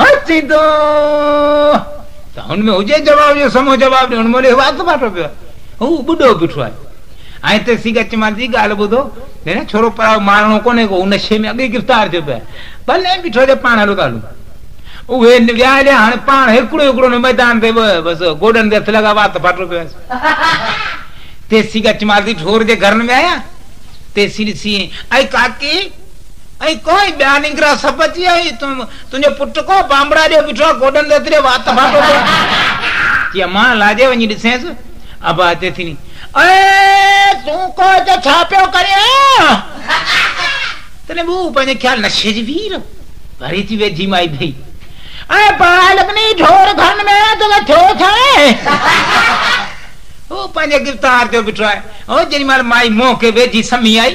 هاڻ ٿيندو ته هن ۾ هجي جواب جو سمو جواب ڏي ان مهل اهو وات ڦاٽو پيو آهي هو ٻڍو بيٺو آهي ۽ تي سي ڳچ مال جي ڳالهه ٻڌو جڏهن ڇورو پرايو مارڻو ڪونهي ڪو ان شي ۾ اڳي گرفتار ٿيو پيو ڀلي بيٺو جي پاڻ هلو ته هلون اهي ويا هليا هاڻي پاڻ هڪڙو هڪڙو نه ميدان تي بس گوڏن تي هٿ لڳا وات ڦاٽو پيو آهيس تيسي ڳچ مال جي ڍور جي گهرن ۾ آيا تيسي ڏسي اي ڪاڪي ۽ ڪو ائين ٻيا ننگرا سڀ اچي ويا ۽ تنهنجو پٽ ڪو بانبڙا ڏيو بيٺو آهي گوڏن تي اتري وات ڦاٽو ٿئي ٿي امان الاجي وڃي ڏسينس ابا اچي ٿي ني اي تون ڪو هتي ڇا پيو ڪرين تڏهن به هو پنهنجي خيال نشي جي وير وري ٿي ويجهي مائي ڀئي اي باهه لڳني ڍور گهرن ۾ توکي ٿيو ڇائي هو پنهنجي گفتار تي بيٺو آهي هو جيڏي مهل مائي منهن کي ويجهي سمهي آئي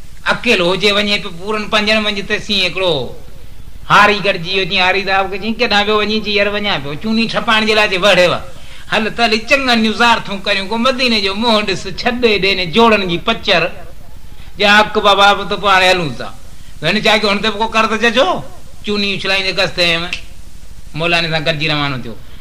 اڪيلو هجي وڃي پيو پورن پنجن منجهه تيسين هڪڙو هاري گڏجي ويو چيائين هاري صاحب کي چيائين ڪيڏانهن پيو وڃين چي يار وڃان پيو چوني ڇپائڻ جي لاء چي وهڙيو آ هل ته هلي چڱن جون زيارتون ڪريون ڪو مديني جو منهن ڏس ڇڏ هيڏي انهن جوڙن جي پچر جا اڪ بابا به ته پوء هاڻي هلون ٿا ته هن ڇا ڪيو هن تي به ڪو قرض چچو چوني اڇلائيندي ڪس تي هيم مولاني سان گڏجي روانو ٿيو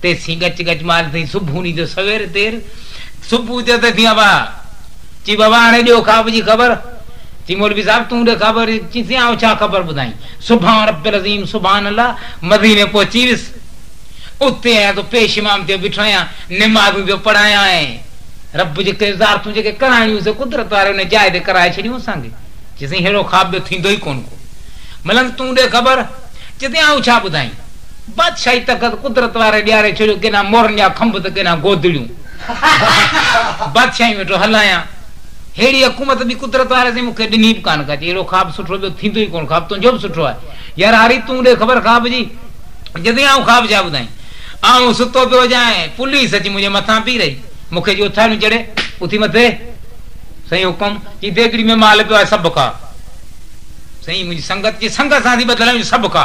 تيسين ڳچ ڳچ مال ٿئي سڀوني جو سوير تير سڀ اٿيو تيسين ابا چي بابا هاڻي ڏيو خواب جي خبر چي مولوي صاحب تون ڏي خبر چيسين آئون ڇا خبر ٻڌائين سبحان رب العظيم سبحان الله مديني پهچي ويس اتي آيان ته پيش امام ٿيو بيٺو آهيان نمازون پيو پڙهايان ۽ رب جي ڪيون زيارتون جيڪي ڪرائڻيون سي قدرت واري ان جاء تي ڪرائي ڇڏيون اسان کي چيسين ههڙو خواب ٻيو ٿيندو ئي ڪونه ڪو ملنس تون ڏي خبر چيسين آئون ڇا ٻڌائين. بادشاهي تخت قدرت واري ڏياري ڇڏيو، ڪيڏانهن مورن جا کنڀ ته ڪيڏانهن گودڙيون. بادشاهيون ويٺو هلايان. ههڙي حڪومت ٻي قدرت واري سائين مون کي ڏني به ڪانه ڪا. چي اهڙو خواب سٺو ٻيو ٿيندو ئي ڪونه، خواب تنهنجو به سٺو آهي. يار هاري تون ڏي خبر خواب جي. جتي آئون خواب ڇا ٻڌائين. آئون ستو پيو هجان ۽ پوليس اچي منهنجي مٿان بيهي رهي. مون کي جي اٿاريون چڙهي، اٿي مٿي. سائين حڪم. چي ديڳڙي ۾ مال پيو آهي سڀ کا. سائين منهنجي سنگت جي سنگ سان ٿي ٻڌل آهيون سڀ کا.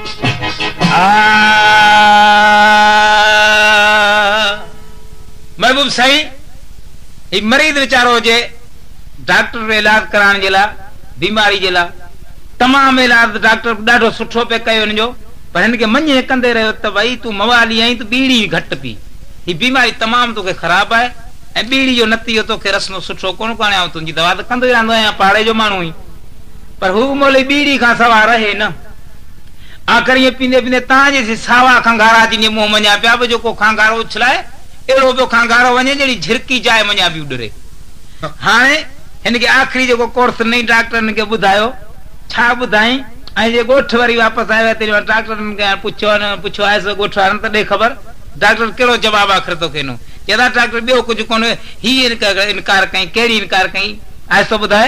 محبوب سائين هي مريض ويچارو هجي ڊاڪٽر به علاج ڪرائڻ جي لا بيماري جي لا تمام علاج ڊاڪٽر به ڏاڍو سٺو پي ڪيو هن جو پر هن کي مڃي ڪندي رهيو ته ڀئي تون موالي آهين تون ٻيڙي به گهٽ پي هي بيماري تمام توکي خراب آهي ۽ ٻيڙي جو نتيجو توکي رسندو سٺو ڪونه ڪو هاڻي آئون تنهنجي دوا ته ڪندو ئي رهندو آهيان پاڙي جو ماڻهو آهين پر هو مولوي ٻيڙي کان سوا رهي نه آخر ائين پيندي پيندي تان جيسين ساوا کنگهارا جينجهي منهن منجهان پيا به جو ڪو کنگهارو اڇلائي، اهڙو پيو کنگهارو وڃي ڄڻي جهرڪي جاء منجهان پيو ڏري. هاڻي هن کي آخري جيڪو ڪورس نئين ڊاڪٽر هن کي ٻڌايو، ڇا ٻڌائين؟ ۽ جي ڳوٺ وري واپس آيو آهي تيڏي مهل ڊاڪٽر هن کان پڇيو آهي نه پڇيو آهيس ڳوٺ وارن ته ڏي خبر، ڊاڪٽر ڪهڙو جواب آخر توکي ڏنو؟ چئي ٿا ڊاڪٽر ٻيو ڪجهه ڪونه هئي، هي انڪار ڪئين، ڪهڙي انڪار ڪئين؟ آهستو ٻڌاء.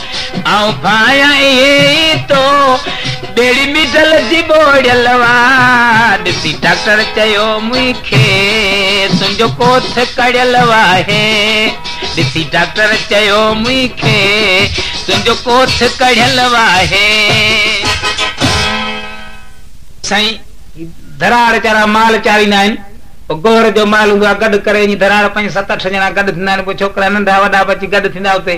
آئون ڀانئيان ايئن ئي تو ٻيڙي مڊل جي ٻوڙيل وا ڏسي ڊاڪٽر چيو مون کي تنهنجو ڪوٿ ڪڙيل وا هي ڏسي ڊاڪٽر چيو مون کي تنهنجو ڪوٿ ڪڙيل وا هي سائين ڌراڙ چارا مال چاريندا آهن پوء گوهر جو مال هوندو آهي گڏ ڪري اڃي ڌراڙ پنج ست اٺ ڄڻا گڏ ٿيندا آهن پوء ڇوڪرا ننڍا وڏا به اچي گڏ ٿيندا اتي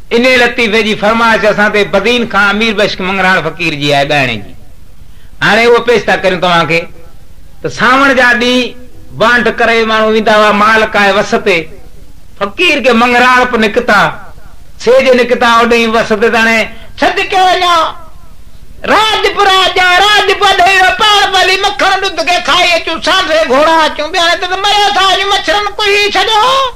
انهيء لطيفي جي فرمائش اسان تي بدين کان امير بخش مڱراڻ فقير جي آهي ڳائڻي جي. هاڻي اهو پيش ٿا ڪريون توهان کي ته سانوڻ جا ڏينهن بانڊ ڪري ماڻهو ويندا هئا مال ڪاهي وس تي فقير کي مڱراڻپ نڪتا سي جي نڪتا اوڏهين وس تي تڻي سڏ ڪيو وڃو راڄ پورا جا راڄ پوڍي ويو پاڻ پلي مکڻ ڏڌ کي کائي اچون سانڍري گهوڙا اچون ٻيڻي تي ته مريو ٿا وڃون مڇرن ڪهي ڇڏيو.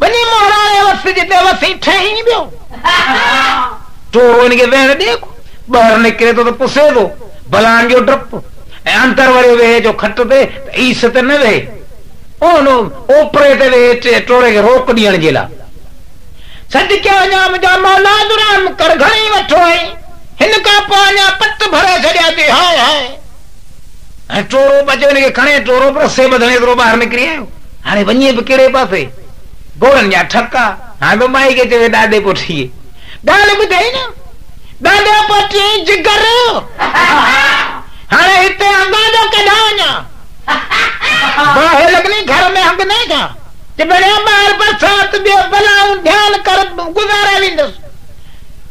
ٻني مهراڻي وس جي بي وسي ٺهين ويو. ٽوڙو ان کي ويهڻ ڏي ڪو. ٻاهر نڪري ٿو ته پسي ٿو. بلان جو ڊپ. ۽ اندر وري ويهي جو کٽ تي ته ايس تي نه ويهي. ان اوپري تي ويهي ٽوڙي کي روڪ ڏيڻ جي لاء. صدقي وڃان منهنجا مولا جو رحم ڪر گهڻي وٺو ۽ هن کان پوء اڃا پٽ ڀري ڇڏيا ٿي هاء هاء. ۽ ٽورو به اچي وڃي کي کڻي، ٽورو به رسي ٻڌڻ جيترو ٻاهر نڪري آيو، هاڻي وڃي به ڪهڙي پاسي، گهوڙن جا ٺڪا، هاڻي ته مائي کي چوي ڏاڏي پوٽيء ڳالهه ٻڌائي نه، ڏاڏا پوٽيء جي جگر، هاڻي هتي هنگان جو ڪيڏانهن وڃان، باهه لڳني گهر ۾ هنگندين ڇا، چي ڀيڻيا ٻاهر برسات به آهي، بلائون ڌيان ڪر گذاري ويندس،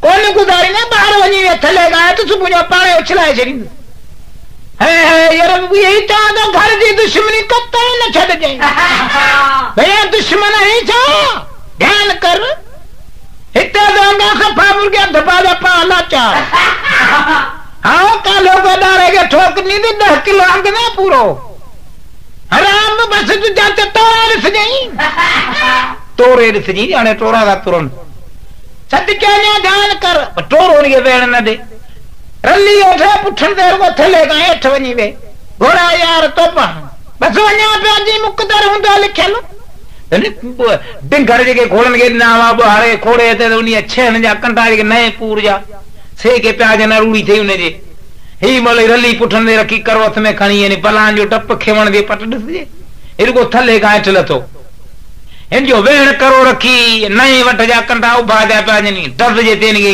ڪونه گذاريندين، ٻاهر وڃي ويهه ٿلهي ڳاهه ته صبح جو پاڻ اڇلائي ڇڏيندس. هي هي يرب ويهي چان ته گهر جي دشمني قطعي نه ڇڏجئين. ڀيا دشمن آهين ڇا؟ ڌيان ڪر. هتي ته انگا صفا مرگيا ڌپا جا پاهه لاچار. ها ڪالهو ڪو ڏاڙهي کي ٺوڪندين ته ڏهه ڪلو انگ نه پورو. حرام به بس جو جان ته توري ڏسجئين. توري ڏسجئين هاڻي ٽورا ٿا ترن. سچ چئين يا ڌيان ڪر. پر ٽورو انهي کي ويهڻ نه ڏي. رلي او ڊپ اٺڻ تي رڳو ٿلهي کان هيٺ وڃي ويهي، گهوڙا يار تو پاڻ بس وڃان پيا جي مقدر هوندو لکيل. ڊنگر جيڪي گهوڙن کي ڏنا هئا ٻهاڙي کوڙي هتي ته انهيء ڇيهن جا ڪنڊا جيڪي نئين پور جا سي ڪي پيا جن اروڙي ٿئي ان جي هي مهل ئي رلي پٺن تي رکي ڪروٿ ۾ کڻي يعني بلان جو ڊپ کيوڻ جي پٽ ڏسجي هي رڳو ٿلهي کان هيٺ لٿو هن جو ويهڻ ڪرو رکي نئين وڍ جا ڪنڊا اڀا جا پيا جن ڊز جي تين کي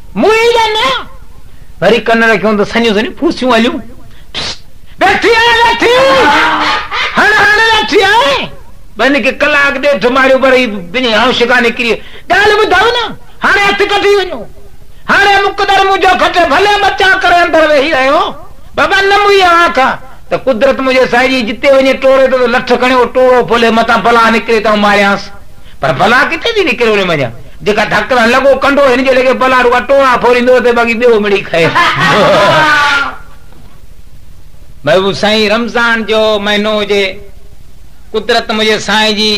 موئي يا نه؟ وري ڪن رکيون ته سنيون سنيون پوسيون هليون. ويٺي آهي ويٺي! هڻ هڻ ويٺي آهي! ٻن کي ڪلاڪ ڏيڍ ماريو پر هي ٻنهي هانش کان نڪري ڳالهه ٻڌائون نه، هاڻي هٿ ڪڍي وڃو. هاڻي مقدر منهنجو کٽي ڀلي مچان ڪري اندر ويهي رهيو. بابا نه موئي اوهان کان ته قدرت منهنجي سائجي جتي وڃي ٽوڙي ٿو ته لٺ کڻي اهو ٽوڙو ڦولي متان بلا نڪري ته آئون ماريانس. پر بلا ڪٿي ٿي نڪري ان منجهان. جيڪا ڌڪ سان لڳو ڪنڍو هن جي لڳي ڀلا رڳا ٽوڙا ڦوريندو اٿئي باقي ٻيو مڙئي کائي. محبوب سائين رمضان جو مهينو هجي قدرت منهنجي سائين جي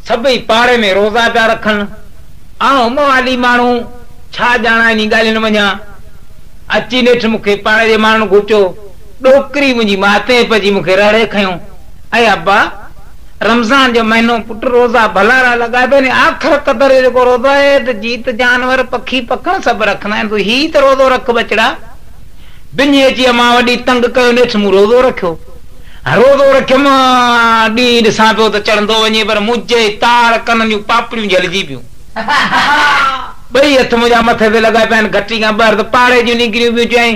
سڀئي پاڙي ۾ روزا پيا رکن آئون موالي ماڻهو ڇا ڄاڻان انهي ڳالهين منجهان اچي نيٺ مون کي پاڙي جي ماڻهن گهچيو ڏوڪري منهنجي ماتيء پئجي مون کي رهڙي کنيو اي ابا رمضان جو مهينو پٽ روزا ڀلارا لڳائي پئي ني آخر قدر جو جيڪو روزو آهي ته جيت جانور پکي پکڻ سڀ رکندا آهن تون هي ته روزو رک ٻچڙا ٻنهي اچي امان وڏي تنگ ڪيو نيٺ مون روزو رکيو روزو رکيم ڏينهن ڏسان پيو ته چڙهندو وڃي پر منهنجي تار ڪنن جون پاپڙيون جهلجي پيون ٻئي هٿ منهنجا مٿي تي لڳائي پيا آهن گهٽي کان ٻاهر ته پاڙي جون نڪريون پيون چيائين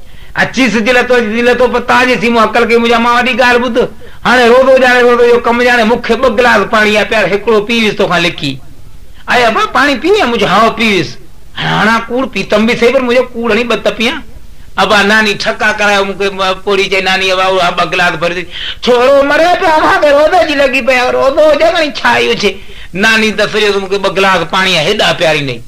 اچي سج لٿو اچي سج لٿو پر تان جي سي مون عقل ڪئي منهنجا مان وڏي ڳالهه ٻڌ هاڻي روزو ڄاڻي روزي جو ڪم ڄاڻي مون کي ٻه گلاس پاڻي يا پيال هڪڙو پي ويس توکان لڪي اي ابا پاڻي پيئي يا منهنجو هائو پي ويس هاڻي هڻان ڪوڙ پيتم به سهي پر منهنجو ڪوڙ هڻي ٻه ته پيان ابا ناني ٺڪا ڪرايو مون کي پوڙهي چئي ناني ابا اهو ٻه گلاس ڀري ڏي ڇورو مري پيو اوهان کي روزي جي لڳي پئي روزو هجي ڀاڻي ڇا ئي هجي ناني ته سڄو مون کي ٻه گلاس پاڻي يا هيڏا پياريندئي.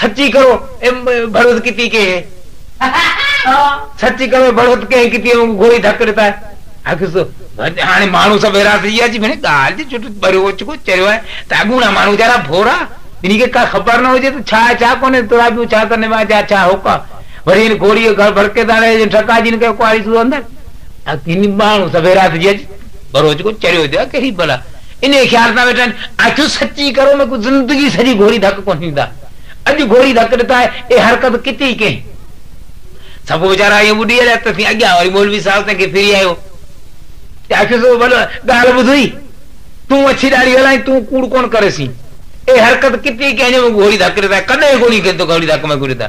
سچي ڪرو اي ڀڙوت ڪتي ڪيهي. سچي ڪرو اي ڀڙوت ڪيهي ڪتي وانگو گهوري ڌڪ ڏتا آهي. اڳ سو هاڻي ماڻهو سڀ ويرا ٿي ويا جي ڀيڻي ڳالهه جي چٽ ڀريو اوچڪو چريو آهي ته اڳوڻا ماڻهو ويچارا ڀورا جنهن کي ڪا خبر نه هجي ته ڇا آهي ڇا ڪونهي تورا پيو ڇا ته نواء جا ڇا هوڪا وري هن گهوڙي گهر ڀڙڪي ٿا رهي ٺڪا جن کي ڪواري سو اندر اڳ هن ماڻهو سڀ ويرا ٿي ويا جي ڀرو اوچڪو چريو ٿيو آهي ڪهڙي بلا انهيء خيال سان ويٺا آهن، آڇو سچي ڪرو ۾ ڪو زندگي سڄي گهوري ڌڪ ڪونه ڏيندا. اڄ گهوري ڌڪ ڏتا آهي، اهي حرڪت ڪٿي ئي ڪين. سڀ ويچارا ائين ٻڏي هليا، تيسين اڳيان وري مولوي صاحب تنهن کي ڦري آيو ته آڇو سو ڀلو ڳالهه ٻڌوئي، تون اڇي ڏاڙهي هلائين، تون ڪوڙ ڪونه ڪريسين. اهي حرڪت ڪٿي ئي ڪين جو مون کي گهوري ڌڪ ڏتا آهي، ڪڏهن ڪونه ڪين تو گهوري ڌڪ ۾ ڪونه ڏتا.